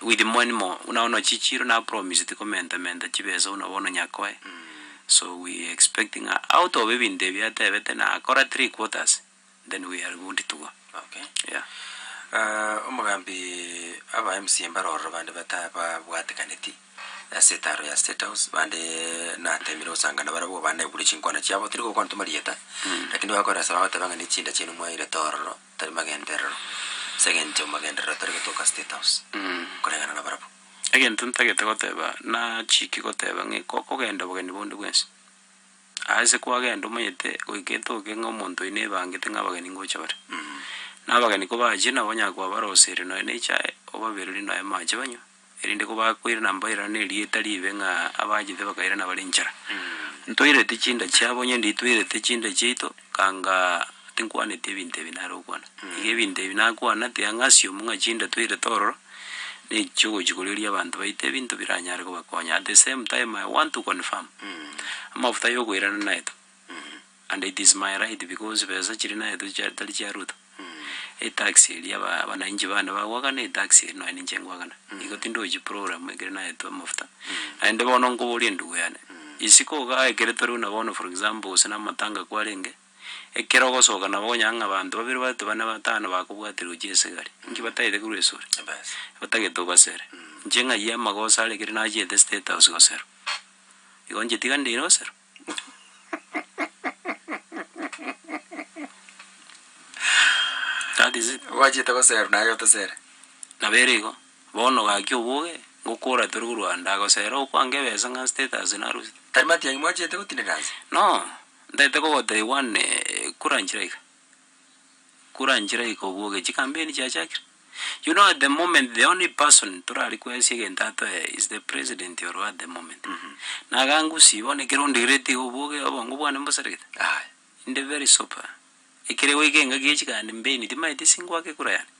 With many more buna bono chichiro napromiseti komentamenta chibesa buna bono nyakoe so we expecting ng'a out of ebinto ebi atebete nakora three quarters then we are good to go Okay. yeah. Ah, omogambi aba mca mbare ororo bande bata babwatekaneti ase etaro ya state house bande natemire gosangana barabwo banaigure chinkwana chiabo tiri gokwana ntwe marieta lakini bakoresa bagoteba ng'a nechinda chiaino mwairete ororo Tari magenderero, ase engencho magenderero tari gotoka State House koreng'ana nabarabwo. Egento ntagete goteba, nachiiki goteba ng'e gokogenda obogeni bonde bwensi, aa ase kwagenda omanyete goika etoke ng'a omonto oyi nebangete ng'a abageni ngocha bare. Na abageni kobachire nabo onyara kobaroseria nonya na echae, obaberorie nonya amache banywe. erinde kobakoirana mbairane nerieta riibe ng'a abaanchete bakairana bare inchara. Ntoirete chinda chiabo onye nditoirete chinda chiaito, kanga tinkwaneti ebinto ebi nare okwana. Iga ebinto ebi nakwana tiang'asi omu ng'a chinda toirete ororo nechiogochia korioria abanto baito ebinto biranyare kobakonya at the same time I want to confirm amafuta yokoirana naito. And it is my right because besa chiri naye tochi tari chia Ruto. Etax eria aba abanainchi bande bagokana etax eria nonya ninche ngokana. Igo tindochi program ekere naetwa amafuta. Naende bono nkoboria endugu yane, isiko igaa ekere tore buna bono for example gose na amatanga kwarenge, ekero ogosoka nabo okonyora ng'a abanto babere batu bane batano bakobwaterwa gochia esegari. Inki batagete korwa esore? Batagete obasere. Inche ng'ai amagoso are ekere nachiete state house goserwa. Igo inche tiga ndeire osero. That is it. Obachete gosera naye otesere. Nabo ere igo, bono gaki oboge, ngokora tore korwa ande, agosera okwange ebesa ng'a status narosete. Tari matiang'i mwachete gotinda nase? No, ntaete kogotebi one eh, kura nchire iga. koranchire goika obwo ogechi campaign chiachakire. You know at the moment the only person torare kwesia egento atoe is the president orwa at the moment. Na iga ngusii bono ekero ondigiretie iga obwo oge obongo bwane mbosaregete aye inde very super. Ekere goika engaki echi gambeni timanyeti singoaka ekura yane.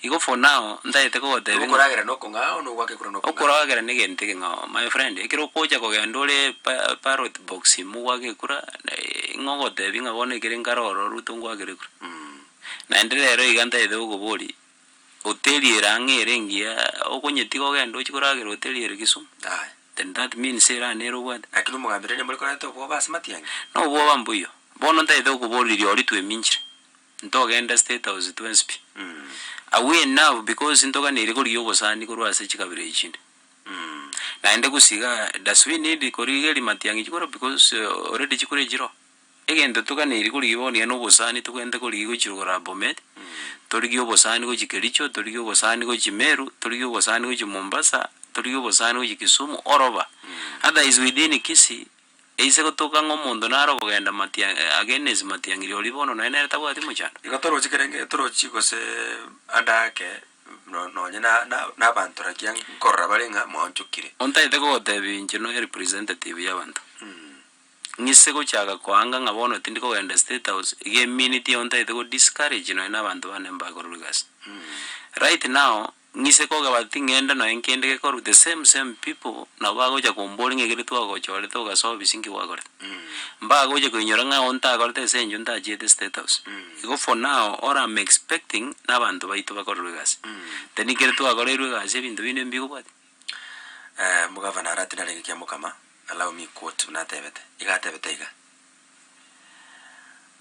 Igo for now ntagete kogotebia ng'a. Okoragera nokong'ao na ogwaka ekura nokong'ao. Okoragera negento ekeng'ao my friend ekero okocha kogenda ore pa ballot box ime ogwake ekura ng'o ogotebia ng'a bono ekere nkare ororo Ruto ngwakere ekura. Naende rero iga ntagete gokobori oteriere ang'e ere engiya okonyetiga ogende ochi koragera oteriere Kisumu. Aye. Then that means ere ane ere obwate. Lakini omogambera ere morekoreta obwoba ase matiang'e. Nobwoba mbuya. Bono ntagete gokobori riori tweminchire. Ntogenda State House twensi pi. Agwo enough because ntoganeire korigia obosani korwa ase chikabira echi chinde. Naende gosiga does we need korigeria matiang'i chikoro because already chikure chiroo. Egento toganeiri korigia bono yaani obosani togende korigia gochi rogoro Bomet, torigie obosani gochi Kericho, torigie obosani gochi Meru, torigie obosani gochi Mombasa, torigie obosani gochi Kisumu, oroba. Otherwise within Kisii. Eise gotoka ng'a omonto nare okogenda matia agenesi matiang'iri oria bono nonya nere tabwati mochando. Igo toroche kerenge torochi gose ande ake no nonye na na nabanto rakia nkorora bare ng'a mwanchokire. Ontagete kogotebia inche noyo representative y'abanto. Ng'ise gochaka koanga ng'a bono tindi kogenda state house, iga eminute eyo ontagete go discourage nonya nabanto bane mbakorerwe egasi. Right now. Ng'ise kogaba ting'ende noe nkende gekorwa the same same people nabo bagocha kombori ng'a ekere twagochorete ogasoa obisi nki gwakorete. Mbagocha koinyora ng'a oo ntakorete ase enchwe ntachiete state house. Igo for now all am expecting nabanto baito bakorerwe egasi. Then ekere twakoreirwe egasi ebinto binde mbigo bwati. Omogavana arati narenge kia mokama, allow me quote, buna atebete, iga atebete iga.